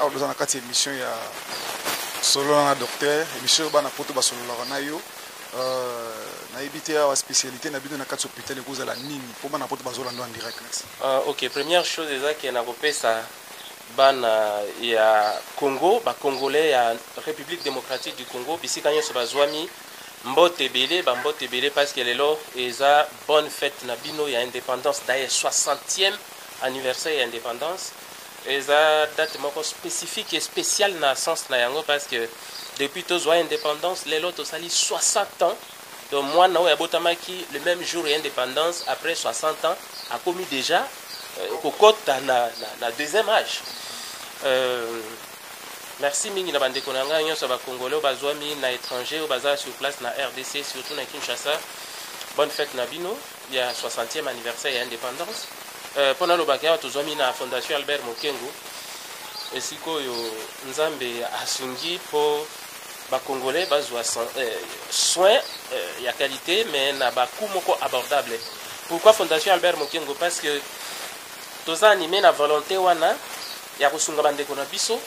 Awa toza na kati ya emission ya solola na docteur, emission oyo bana poto basololaka na yo. Euh, nayebi te awa spécialité na bino na kati hôpital ekozala nini mpo bana poto bazolanda en direct. Merci. Uh, ok, première chose eza ke nakopesa bana ya Congo, ba Congolais ya République démocratique du Congo, bisika nyonso bazwami mbote ebele ba mbote ebele parce que lelo eza bonne fête na bino ya indépendance d'ailleurs 60e anniversaire ya indépendance Eza date moko specifique et speciale na sens na yango parce que depuis tozwa independance lelo tosali 60 ans donc mwana oyo abotamaki le même jour ya independance après 60 ans akomi déjà euh, kokota na, na, na deuxième âge euh, merci mingi na bandeko na ngai nyonso ya bakongole oyo bazwami na étranger oyo baza sur place na rdc surtout na kinshasa bonne fête na bino ya 60e anniversaire ya independance euh, mpo nalobaka awa tozwami na fondation albert mokengo esika oyo nzambe asungi mpo bacongolais bazwa euh, soin euh, ya qualité mais na bacoût moko abordable pourquoi fondation albert mokengo parce que toza anime na volonté wana ya kosunga ba ndeko na biso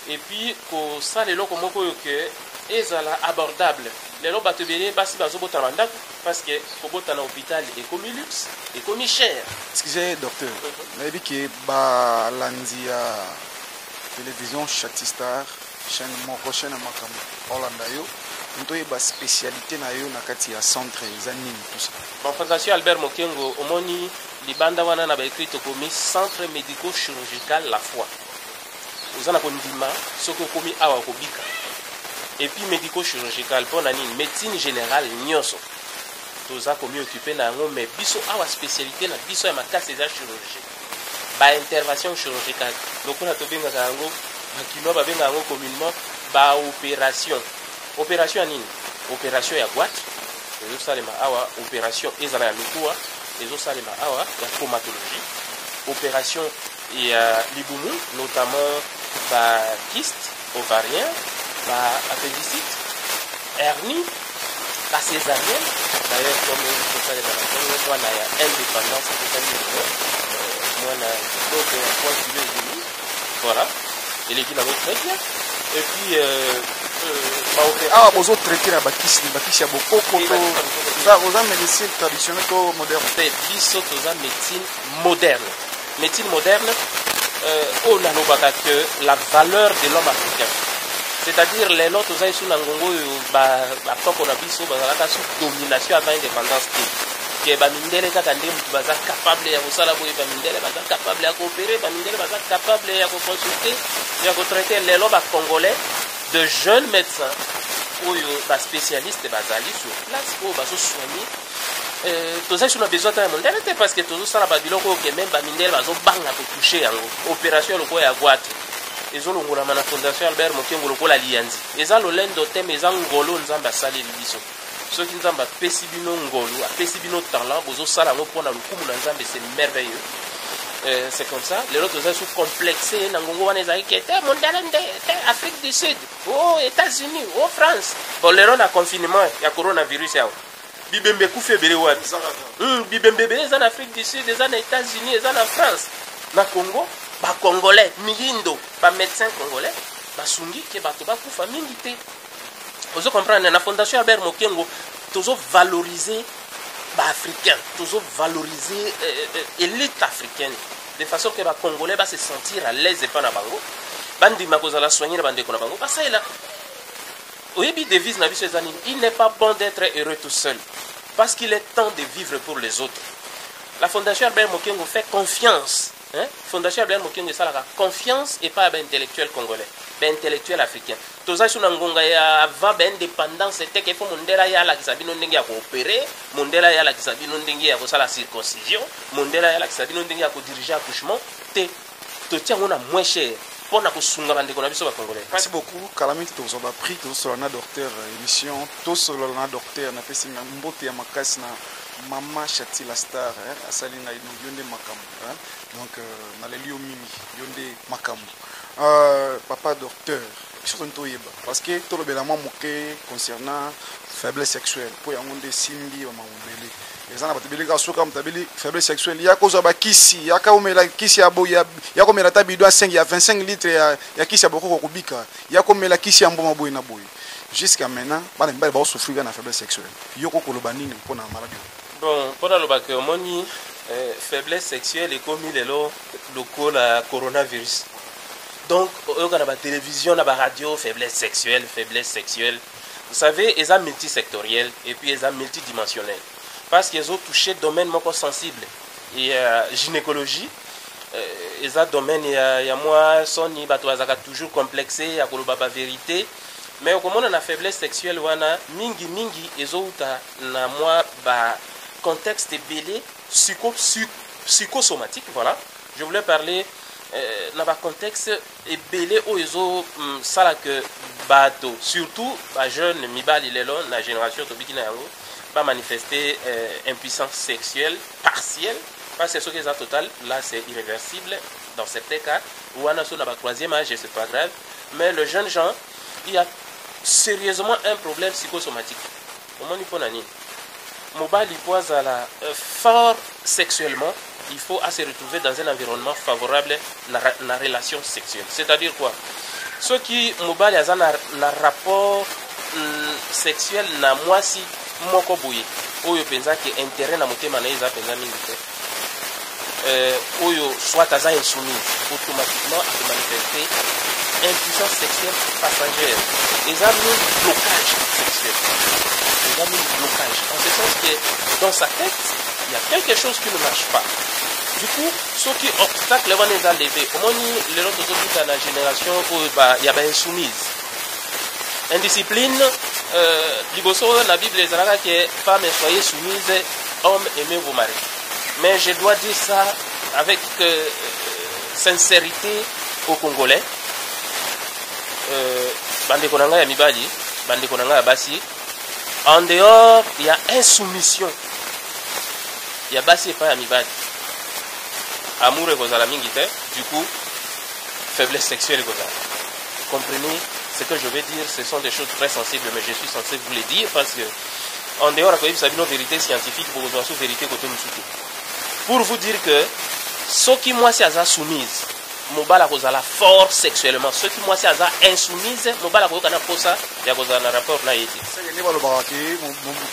et puis kosala eloko moko oyo que ezala abordable lelo bato ebele basi bazobota na bandako parce que kobota na hôpital ekomi luxe ekomi cher excusez docteur mhm. nayebi ke balandi ya télévision chatistar chaîne moko chaîne ya makambo olanda yo moto oyeba spécialité na yo na kati ya centre eza nini tusa bafanzation albert mokengo omoni Libanda wana na ba ecrit tokomi centre medico chirurgical la foi oza na kondima soki okomi awa okobika epuis medico chirurgical mpo na nini médecine générale nyonso toza komiokipe na yango mais biso awa spécialité na biso ya makasi eza chirurgie baintervention chirurgicale lokola tobengaka yango bakinois babengaka yango communement baopération opération ya nini opération ya bwate ezosalema awa opération ezala ya mikuwa ezo salema awa ya traumatologie operation ya libumu notamment ba kyste ovarien ba appendicite hernie ba césarienne d'ailleurs comme ekosalema na ntongo mwana ya indépendance ekokani mwana kitoko ya poids kilo edemi Voilà. Eleki na très bien. Et puis, euh, euh, awa bozo traite na bakisi bakisi ya bokoko to oza médecine traditionnelle to moderne te biso toza médecine moderne médecine moderne euh, oyo nalobaka que la valeur de l'homme africain c'est-à-dire lelo toza esu na ngongo oyo batoko na biso bazalaka su domination avant indépendance te ke ba mindele kaka nde mutu baza capable ya kosala boye ba mindele baza capable ya koopere ba mindele baza capable ya koconsulte ya kotraite lelo ba congolais de jeunes médecins oyo ba spécialiste bazali sur place oyo bazosoigne euh, tozali so na besoin ata ya mondele te parce que tozosala babiloko oyo ke meme bamindele bazobanga kotouche yango opération lokola ya gwate ezolongolama na fondation albert mokengo lokola liyanzi eza lolendo te ma eza ngolo nzambe asaleli biso Soki nzambe apesi bino ngolu apesi bino talent bozosala yango mpo na lokumu na nzambe c'est merveilleux euh, c'est comme ça lelo toza su complexe na ngongo wana ezalaki ke te mondele nde te afrique du sud o oh, états-unis o oh, france bon lelo na confinement ya coronavirus yawa bibembe ekufi ebele wapi hmm, bibembe ebele eza na afrique du sud eza na états-unis eza na france na congo bacongolais miyindo bamédecin congolais basungi ke bato bakufa mingi te ozo comprendre na fondation ya ber mokengo tozo valoriser baafricain tozo valoriser euh, euh, elite africaine de façon que bacongolais base sentir à l'aise epa na bango bandima kozala soigne na bandeko na bango basalela oyebi devise na biso eza nini il n'est pas bon d'être heureux tout seul parce qu'il est temps de vivre pour les autres la fondation albert mokengo fait confiance hein? fondation albert mokengo esalaka confiance epai ya baintellectuel congolais baintellectuel africain Toza sur na ngonga ya avant ba independance te ke faut mondela ya alakisa bino ndenge ya koopere mondela ya alakisa bino ndenge ya kosala circoncision mondela ya alakisa bino ndenge ya kodirige accouchement te totia yango na moins cher mpo na kosunga bandeko na biso bacongolais merci beaucoup kala mingi tozwa baprix tozosolola na docteur euh, émission tosolola na docteur napesi mbote ya makasi na mama chati la star asali ngai donc yo nde makambo donc euh, naleli yo mingi yo nde makambo Euh, papa docteur biso toni toyeba parce que tolobela mwa moke concernant faiblesse sexuelle mpo yango nde esimbi bamama mobele eza na bato ebele kaka soki moto abeli faiblesse sexuelle ya kozwa bakisi yaka omela kisi ya boye ya komela ata bido ya 5 ya 25 litre ya, ya kisi ya bokoko kobika ya komela kisi ya mbuma boye na boye jusqu'à maintenant bana mibale baosouffrir na faiblesse sexuelle yoko koloba nini mpo na maladi bon mpo nalobaka omoni eh, faiblesse sexuelle ekomi lelo lokola coronavirus donc oyoka na batelevision na baradio faiblesse sexuelle faiblesse sexuelle vous savez eza multisectoriel et puis eza multidimensionnel parce que ezotouche domaine moko sensible ya gynécologie euh, eza domaine ya, ya mwa soni bato bazalaka toujours complexe ya koloba baverité mais okomona na faiblesse sexuelle wana mingi mingi ezowuta na mwa ba contexte ebele psycho, psycho psychosomatique voilà je voulais parler euh, na ba contexte ebele oyo ezo mm, sala que bato surtout ba jeune mibali lelo na génération tobiki na yango ba manifester euh, impuissance sexuelle partielle parce que soki eza total là c'est irréversible dans certains cas ou wana so na ba troisième âge c'est pas grave mais le jeune gens il y a sérieusement un problème psychosomatique omoni mpo na nini mobali mpo azala euh, fort sexuellement il faut à se retrouver dans un environnement favorable na, na relation sexuelle c'est-à-dire quoi soki mobali aza na, na rapport mm, sexuel na mwasi moko boye oyo mpenza ke intérêt na motema na ye eza mpenza mingi te euh, oyo soit aza insoumis automatiquement akomanifeste impuissance sexuelle passagère eza mingi blocage sexuel eza mingi blocage en ce sens que dans sa tête il y a quelque chose qui ne marche pas du coup soki obstacle wana eza leve omoni lelo tozokuta na génération oyo ya bainsoumise indiscipline euh, liboso na bible ezalaka ke femme soye soumise homme aimez vos maris mais je dois dire ça avec euh, sincérité au congolais euh, bandeko na ngai ya mibali bandeko na ngai ya basi en dehors ya insoumission ya basi epai ya mibali amour ekozala mingi te du coup faiblesse sexuelle ekozala comprenez ce que je vais dire ce sont des choses très sensibles mais je suis censé vous les dire parce que en dehors ya koyebisa bino verite scientifique bokozwa su verite kote mosusu te pour vous dire que soki mwasi aza soumise mobali akozala fort sexuellement soki mwasi aza insoumise mobali akoyoka na mposa ya kozala na rapport na ye te nde balobaka ke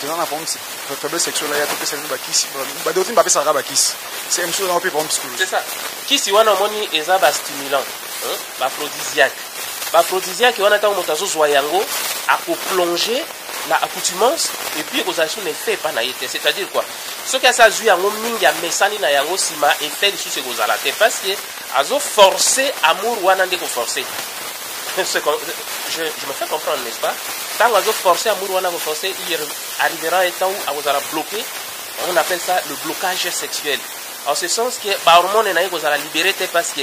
tozana na problème faiblesse sexuelle aya topesa bino bakisi badotini bapesaka bakisi c'est même chose na ope problème psychologique c'est ça kisi wana omoni eza bastimulant baphrodisiaque baphrodisiaque wana ntango moto azozwa yango akoplonge na accoutumance et puis ekozala lisusu na effet epa na ye te c'est à dire quoi soki asi azwi yango mingi amesani na yango nsima effet lisusu ekozala te parce que azo force amour wana nde koforce je, je me fais comprendre n'est-ce pas ntango azo force amour wana koforce il arrivera un temps où akozala bloqué on appelle ça le blocage sexuel en ce sens que bahormone na ye kozala libéré te parce que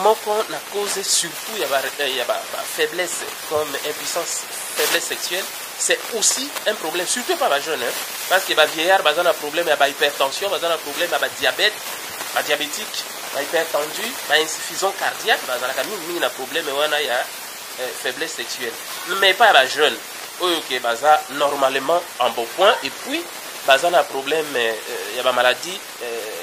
moko na cause surtout ya ba, euh, ya ba, ba faiblesse comme impuissance faiblesse sexuelle c'est aussi un problème surtout pas ba jeune hein? parce que ba vieillard baza na problème ya ba hypertension baza na problème ya ba diabète ba diabétique ba hypertendu ba insuffisant cardiaque bazalaka mingimingi na problème wana ya euh, faiblesse sexuelle mais pas ba jeune oyo ke baza normalement en beau point et puis baza na problème euh, ya ba maladie euh,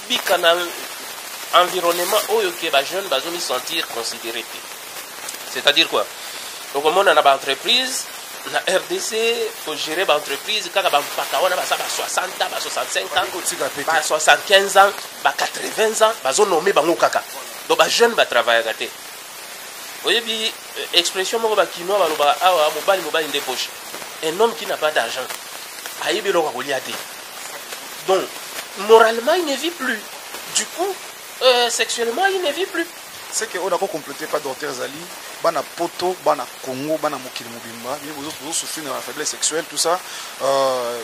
Bika na environnement oyo ke ba jeune bazo mi sentir considere te. C'est-à-dire quoi? Okomona na ba entreprise na rdc kogere baentreprise kaka bampaka wana baza ba 60 ba 65 ans ba 75 ans ba 80 ans bazonome bango kaka donc bajeune batravaillaka te oyebi euh, expression moko ba kinois balobaka awa mobali mobali nde poche un homme qui n'a pas d'argent ayebi eloko akolia te donc moralement il ne vit plus du coup euh, sexuellement il ne vit plus c'est que oyo nakocomplote pa docteur ezali bana poto bana congo bana mokili mobimba bino bozosouffrir na faiblesse sexuelle tout ça euh,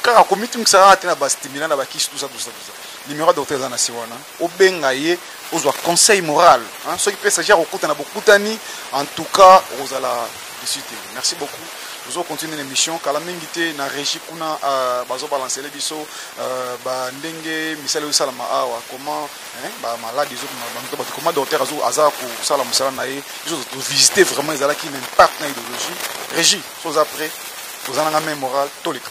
kaka komitungisaka te na bastimulant na bakisi tout ça tout ça tout ça numéro ya docteur eza na si wana obenga ye ozwa conseil moral hein? soki mpe saji akokuta na bokutani en tout cas okozala desi te merci beaucoup tozo continue na émission kala mingi te na régie kuna euh, bazobalancele biso euh, bandenge misala ezosalama awa comment bamaladi ezobato bato comment docteur aza kosala mosala na ye biso tovisite vraiment ezalaki na impact na idéologie régie so oza près oza nanga même moral toleka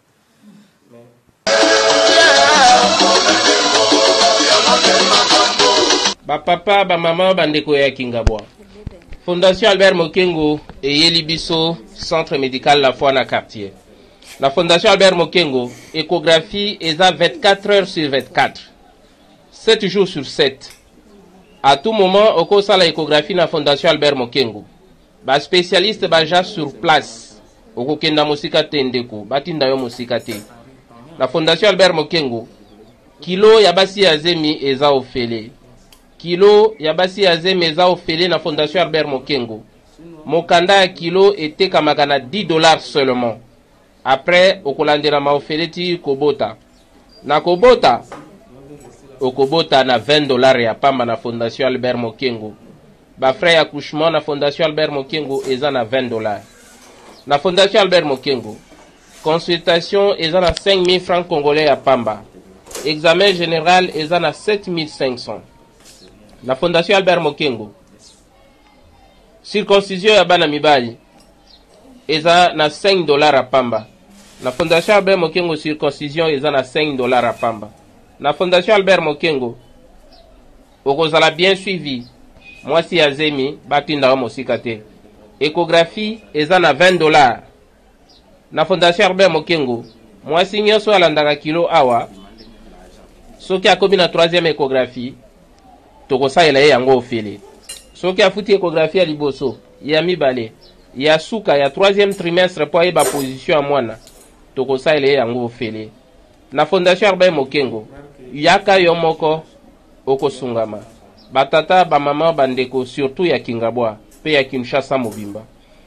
bapapa bamama bandeko ya kingabwa fondation albert mokengo eyeli biso centre médical la foi na quartier na fondation albert mokengo échographie eza 24 heures sur 24 7 jours sur 7 à tout moment okosala échographie na fondation albert mokengo Ba specialiste baja sur place. Okokenda mosika te ndeko, batinda yo mosika te. Na Fondation Albert Mokengo, kilo ya basi ya zemi eza ofele. Kilo ya basi ya zemi eza ofele na Fondation Albert Mokengo. Mokanda ya kilo etekamaka na 10 dollars seulement. Après okolandela ma ofele ti kobota. Na kobota okobota na 20 dollars ya pamba na fondation Albert Mokengo. Ba frais ya couchement na fondation Albert Mokengo eza na 20 dollars. Na fondation Albert Mokengo consultation eza na 5000 francs congolais ya pamba. Examen general eza na 7500. Na fondation Albert Mokengo Circoncision ya bana mibali eza na 5 dollars ya pamba. Na Fondation Albert Mokengo circoncision eza na 5 dollars ya pamba. Na Fondation Albert Mokengo okozala bien suivi, mwasi ya zemi batinda yo mosika te. Echographie eza na 20 dollars. Na Fondation Herbert Mokengo, mwasi nyonso alandaka kilo awa, soki akomi na troisième echographie, tokosalela ye yango ofele. Soki afuti echographie ya liboso, ya mibale, ya suka ya troisième trimestre mpo ayeba position ya mwana, tokosalela ye yango ofele. Na Fondation Herbert Mokengo, yaka yo moko okosungama. Batata, bamama, bandeko surtout ya Kingabwa mpe ya Kinshasa mobimba.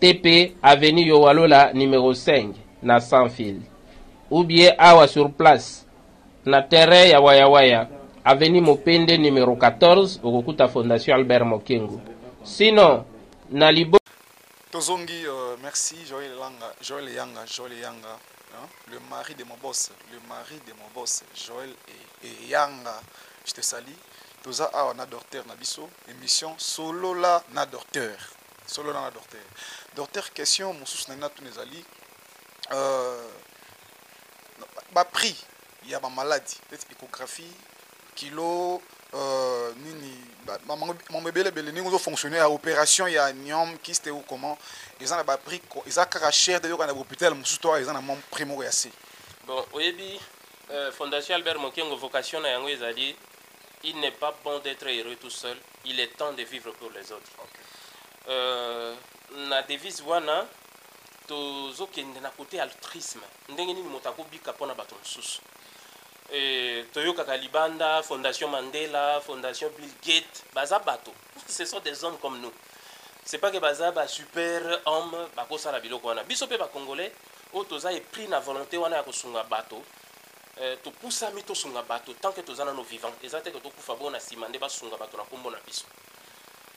TP avenue Yowalola numero 5 na sans fil ou bien awa sur place na terrain ya Waya Waya avenue Mopende numero 14 okokuta fondation Albert Mokengu sinon na libo Tozongi, euh, merci Joël Langa, Joël Yanga, Joël Yanga, hein? le mari de mon boss, le mari de mon boss, Joël et, et Yanga, je te salue. Toza awa na docteur na biso, émission solo la na docteur. Solola na docteur. Docteur, question mosusu nalingi natuna ezali euh, baprix ya bamaladi neti échographie kilo euh, nini mambo ebele ebele ndenge ozofonctionne ya opération ya niom kiste ou comment eza na baprix eza kaka cher de yoka na hôpital mosusu to eza na mwa prix moko ya se bon oyebi euh, fondation albert mokengo vocation na yango ezali il n'est pas bon d'être heureux tout seul il est temps de vivre pour les autres okay. euh, na devise wana tozokende na kote altruisme ndenge nini moto akobika mpo na bato mosusu e, toyokaka libanda fondation mandela fondation bill gate baza bato ce sont des hommes comme nous c'est pas que baza ba super homme bakosala biloko wana biso mpe bacongolais oyo toza epris na volonté wana ya kosunga bato Eh, topusami tosunga bato tant que toza nano vivant. Eza te que tokufa bongo na sima nde basunga bato na kombo na biso.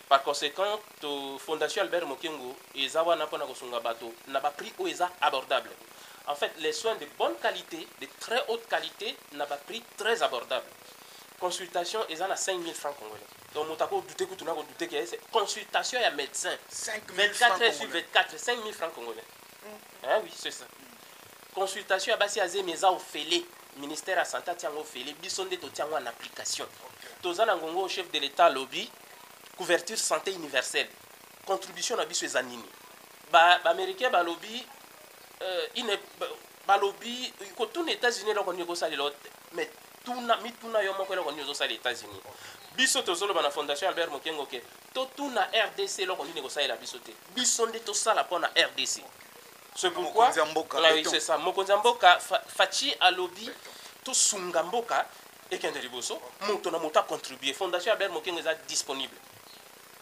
Par consequent, to Fondation Albert Mokengo eza wana pona kosunga bato na ba prix oyo eza abordable. En fait, les soins de bonne qualite, de très haute qualite na ba prix très abordable. Consultation eza na 5000 francs congolais. Donc moto ako douter kutu na ko douter que consultation ya médecin 24 heures sur 24 5000 francs congolais. Eh oui, c'est ça. Consultation ya basi ya zemi eza ofele. Ministère ya santé atia yango ofele. Biso nde totia yango en application. Toza na ngongo chef de l'État alobi couverture santé universelle. Contribution na biso eza nini? Ba, ba Américains balobi euh, ine, ba, balobi kotuna États-Unis eloko nini ekosalela te. Mais tuna mituna yo moko eloko nini ozosala États-Unis. Biso tozoloba na Fondation Albert Mokengo ke totuna RDC eloko nini ekosalela biso te. biso nde tosala pona rdc ce pourquoi c'est ça mokonzi ya mboka faci alobi tosunga mboka ekende liboso moto na moto acontribue fondation ya ber mokengo eza disponible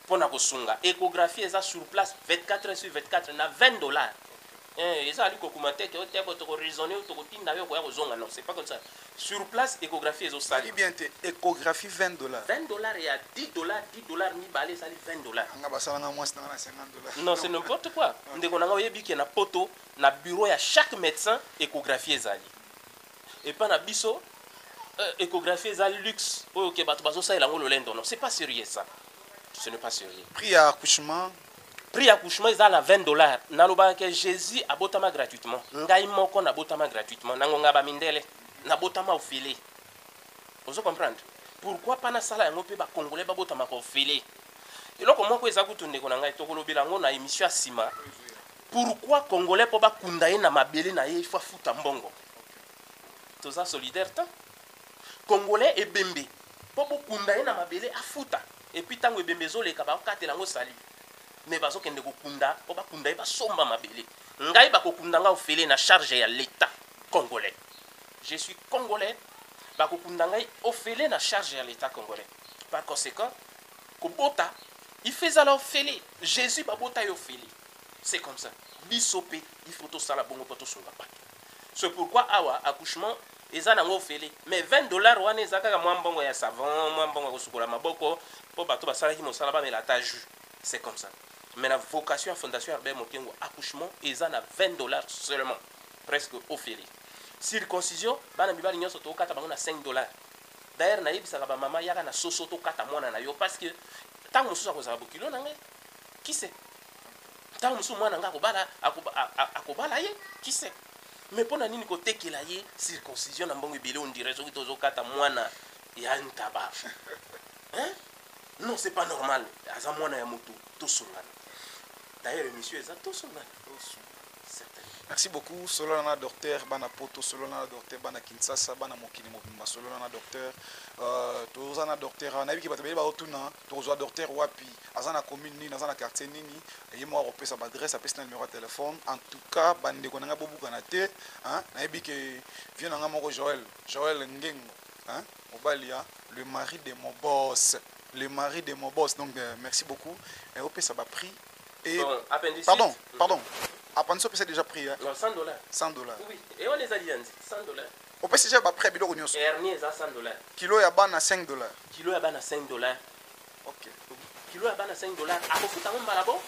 mpo na kosunga échographie eza sur place 24 heures sur 24 na 20 dollars Eeh eza ali ko commenter te oteya boye toko raisonner yo toko tinda yo okoya kozonga non c'est pas comme ça sur place echographie ezo sala Olobi bien te echographie 20 dollars. 20 dollars ya 10 dollars 10 dollars mibale esali 20 dollars. Nga basala nga muasi nanga na 50 dollars. Non c'est n'importe quoi ndeko nanga oyebi ke na poto na bureau ya chaque medecin echographie ezali epa na biso euh, echographie eza luxe oyo ke batu bazo salela ngo lolendo non c'est pas serieux ça ce n'est pas serieux. Prix ya accouchement. prix ya couchement eza na 20 dollars nalobaka ke jésus abotama gratuitement ngai moko nabotama gratuitement na ngonga bamindele nabotama ofele ozo comprendre pourquoi pas nasala yango mpe bakongole babotamaka ofele eloko moko eza kutu ndeko na ngai tokolobela yango na émission ya nsima pourquoi congolais mpo bakunda ye na mabele na ye ifo afuta mbongo toza solidaire te Congolais ebembe po bokunda ye na mabele afuta epuis tango ebembe ezoleka bakokatela yango salut mais bazokende kokunda po bakunda ye basomba mabele ngai bakokunda nga ofele na charge ya l'etat congolais je suis congolais bakokunda ngai ofele na charge ya l'etat congolais par consequent kobota il faut ezala ofele jesus babota ye ofele c'est comme ça biso pe il faut tosala bongo po tosunga bato c'est pourquoi awa accouchement eza nango ofele mais 20 dollars wana eza kaka mwa mbongo ya savon mwa mbongo ya kosukola maboko mpo bato basalaki mosala bamela ata jus c'est comme ça mais na vocation ya fondation Herbert Mokengo accouchement eza na 20 dollars seulement presque ofele circoncision bana mibali nyonso tokokata bango na 5 dollars d'ailleurs nayebisaka bamama yaka na soso tokata mwana na yo parce que ntango mosusu akozala bokilo na ngai kise ntango mosusu mwana ngai akobala akobala ye kise mais pona nini kotekela ye circoncision na mbongo ebele ondire soki tozokata mwana ya ntaba hein? non c'est pas normal aza mwana ya moto tosungana d'ailleurs émission eza tosungana merci beaucoup solana na docteur bana poto solana na docteur bana kinshasa bana mokili mobimba solana na docteur euh, toza na docteur awa nayebi ke bato baye baotuna tokozwa docteur wapi aza na commune nini aza na quartier nini ye moko akopesa baadresse apesi na numero ya telefone en tout cas bandeko na ngai bobukana te nayebi ke vie na ngai moko joel joel ngengo mobali ya le mari de mon boss le mari de mon boss donc euh, merci beaucoup eh, opesa baprix et pardon pardon apandisi opesa déjà prix 100 dollars 100 dollars oui et on les a dit 100 dollars Opesi déjà ba prix ya biloko nionso. Hernie eza 100 dollars. Kilo ya bana 5 dollars. Kilo ya bana 5 dollars. Okay. Kilo ya bana 5 dollars. Akofuta yango mbala bo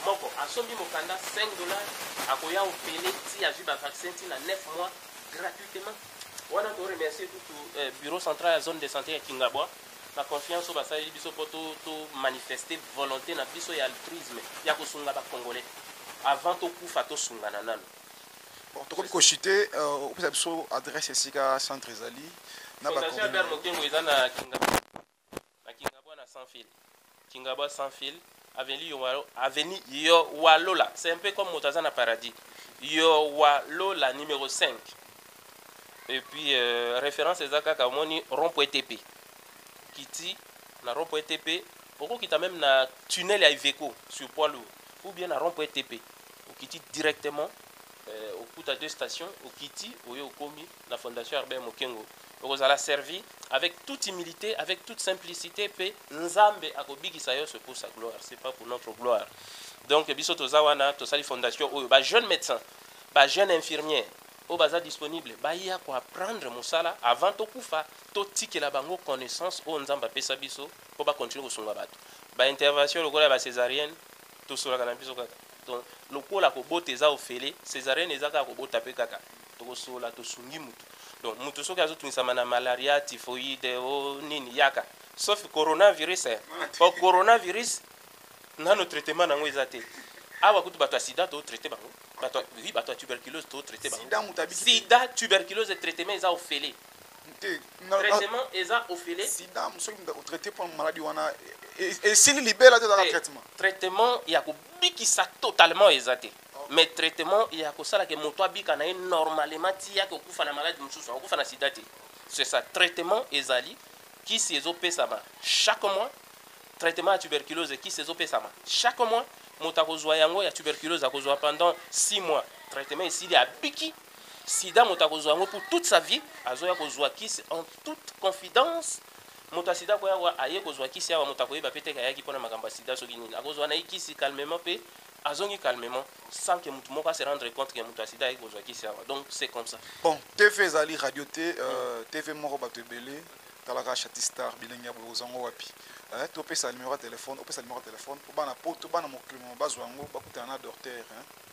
moko. Asombi mokanda 5 dollars. Akoya opele ti azwi ba vaccin ti na 9 mois gratuitement. Wana to remercier tout euh, bureau central ya zone de santé ya Kingabwa na confiance oyo basaleli biso mpo to, to manifeste volonté na biso ya altruisme ya kosunga bacongolais avant tokufa tosungana nano bon tokomi kochute euh, opesa biso adresse esika centre ezali na bacoordinate mokengo eza na kingabwa na kingabwa na sans fil kingabwa sans fil avenue yowalo avenue yowalola c'est un peu comme moto aza na paradis yowalola numéro 5 et puis euh, référence eza kaka omoni rond point tp kiti na rond point tp okokita meme na tunnel ya iveco sur poids lourd ou bien na rond-point TP okiti directement euh, okuta deux stations okiti oye okomi na fondation Herbert Mokengo okozala servi avec toute humilité avec toute simplicité pe Nzambe akobikisa yo c'est pour sa gloire c'est pas pour notre gloire donc biso toza wana tosali fondation oyo ba jeunes médecins ba jeunes infirmiers oyo baza disponible baya koapprendre mosala avant tokufa totikela bango connaissance oyo nzambe apesa biso po ba continue kosunga batu ba intervention lokola ya ba cesarienne tosolaka na biso kaka donc lokola kobota eza ofele cesarienne eza kaka kobota pe kaka tokosola tosungi mutu donc mutu soki azotungisama na malaria typhoide o oh, nini yaka sauf coronavirus eh. po coronavirus nano traitement nango eza te awa kutu bato ya sida totraite bango bato oui bato ya tuberculose totraite bango sida tuberculose traitement eza ofele te traitement eza ofele sida soki moto akotraite mpo na maladi wana esili libela te ezaka traitement traitement ya kobikisa totalement eza te mais traitement ya kosala ke moto abika na ye normalement ti yake okufa na maladi mosusu akokufa na sida te c'est ça traitement ezali kisi ezopesama chaque mois traitement ya tuberculose kisi ezopesama chaque mois moto akozwa yango ya tuberculose akozwa pendant 6 mois traitement esili abiki sida moto akozwa yango pour toute sa vie azoya kozwa kisi en toute confidence moto ya sida akoya awa aye kozwa kisi awa moto akoyeba mpe te ayaki mpo na makambo ya sida soki nini akozwa na ye kisi calmement mpe azongi calmement sans que moto moko ase rendre compte ke moto ya sida ayaki kozwa kisi awa donc c'est comme ça bon tv ezali radio te euh, mm. tv moko bato ebele talaka chatistar bilenge ya boye ozwa yango wapi eh, topesa numero ya telefone opesa numero ya telefone mpo bana poto bana mokili moma bazwa yango bakutana na docteur eh.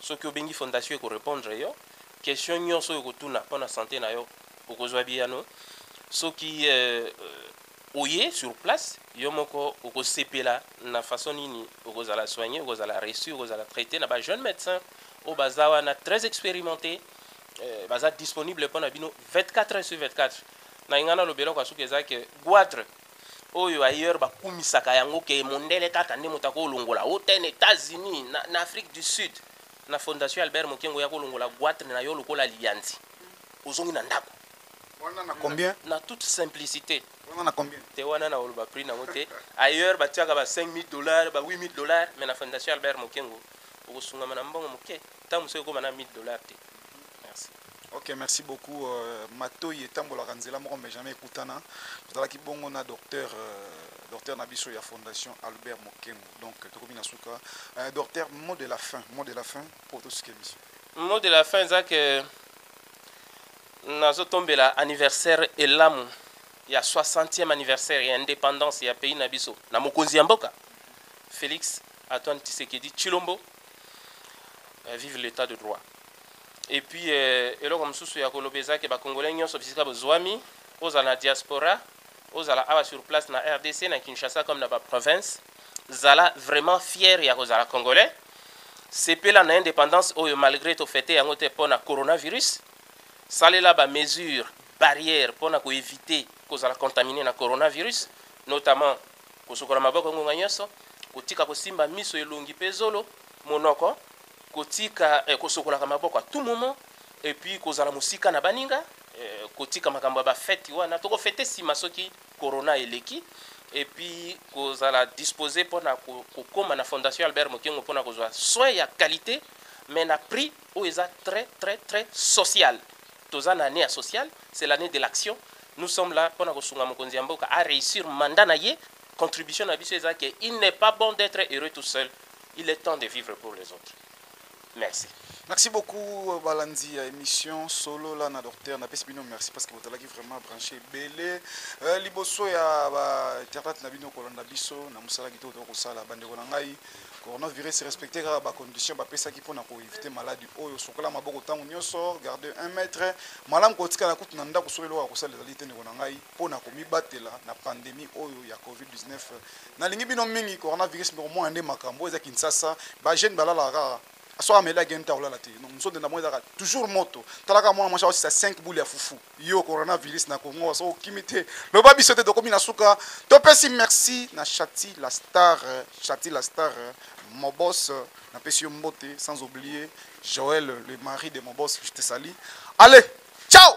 soki obengi fondation eko repondre yo question nionso oyo okotuna pona sante na yo okozwa biyano soki euh, oye sur place yo moko okosepela na façon nini okozala soigner okozala reçu okozala traite na ba jeune médecin oyo baza wana très expérimenté euh, baza disponible pona bino 24 heures sur 24 na ingana lobeloko ya suka eza ke guadre oyo ailleurs bakumisaka yango ke mondele kaka nde moto akolongola hotene Etats-Unis na, na Afrique du Sud na Fondation Albert Mokengo ya kolongola guatre na yo lokola liyanzi ozongi na ndako wana na combien na, na toute simplicité wana na combien te wana na oloba prix nango te ailleurs batiaka ba 5000 dollars ba 8000 dollars mais na Fondation Albert Mokengo okosungama na mbongo moke Tango mosusu ekoma na 1000 dollars te. Merci. Ok, merci beaucoup. Euh, matoyi etambolaka nzela moko mais jamais ekutana. Tozalaki bongo na docteur euh, docteur na biso ya fondation Albert Mokembo. Donc tokomi na suka. Euh, docteur, mot de la fin, mot de la fin pour tout ce qui est mission. Mot de la fin eza que nazotombela anniversaire elamu ya 60e anniversaire ya indépendance ya pays na biso na mokonzi ya mboka Félix Antoine Tshisekedi Tshilombo eh, vive l'etat de droit et puis eh, eloko mosusu ya koloba eza ke bakongolais nyonso bisika bozwami ozala na diaspora ozala awa sur place na rdc na kinshasa comme na baprovince zala vraiment fier ya kozala congolais sepela na indépendance oyo malgré tofete yango te mpo na coronavirus salela bamesure barrière mpo na koevite kozala contamine na coronavirus notamment Kosokola maboko ngonga nyonso, kotika kosimba miso, elongi mpe zolo, monoko, kotika eh, kosokolaka maboko à tout moment et puis kozala mosika na baninga eh, kotika makambo ya bafeti wana tokofete nsima soki corona eleki et puis kozala dispose mpo na kokoma na fondation albert mokengo mpo na kozwa soin ya qualité mais na prix oyo eza très très très sociale Toza na annee ya sociale, c'est l'annee de l'action, nous sommes là pona kosunga mokonzi ya mboka a reussir mandat na ye, contribution na biso eza que il n'est pas bon d'etre heureux tout seul, il est temps de vivre pour les autres. Merci. Merci beaucoup balandi ya emission solo la na docteur na pesi bino merci parce que bozalaki vraiment branché ebele euh, liboso ya ba internet na bino kolanda biso na mosala kitoko tokosala bandeko na ngai coronavirus respecte kaka bacondition bapesaki mpona koevite maladi oyo sokola maboko ntango nyonso garde 1 mètre malamu kotikala kutu na ndako soki eloko ya kosala ezali te ndeko na ngai mpo na komibatela na pandemi oyo ya covid-19 nalingi bino mingi coronavirus mpe komona nde makambo oyo eza kinsasa bajeune balalaka kaka soki ameli ageni te akolala te nzonde na bango ezalaka toujours moto talaka mwana mwasi aosisa 5 boule ya fufu Yo corona virus na Congo so okimi te loba biso te tokomi na suka topesi merci na Chati la star Chati la star mon boss na pesi yo mbote sans oublier Joël le mari de mon boss je te salis allez ciao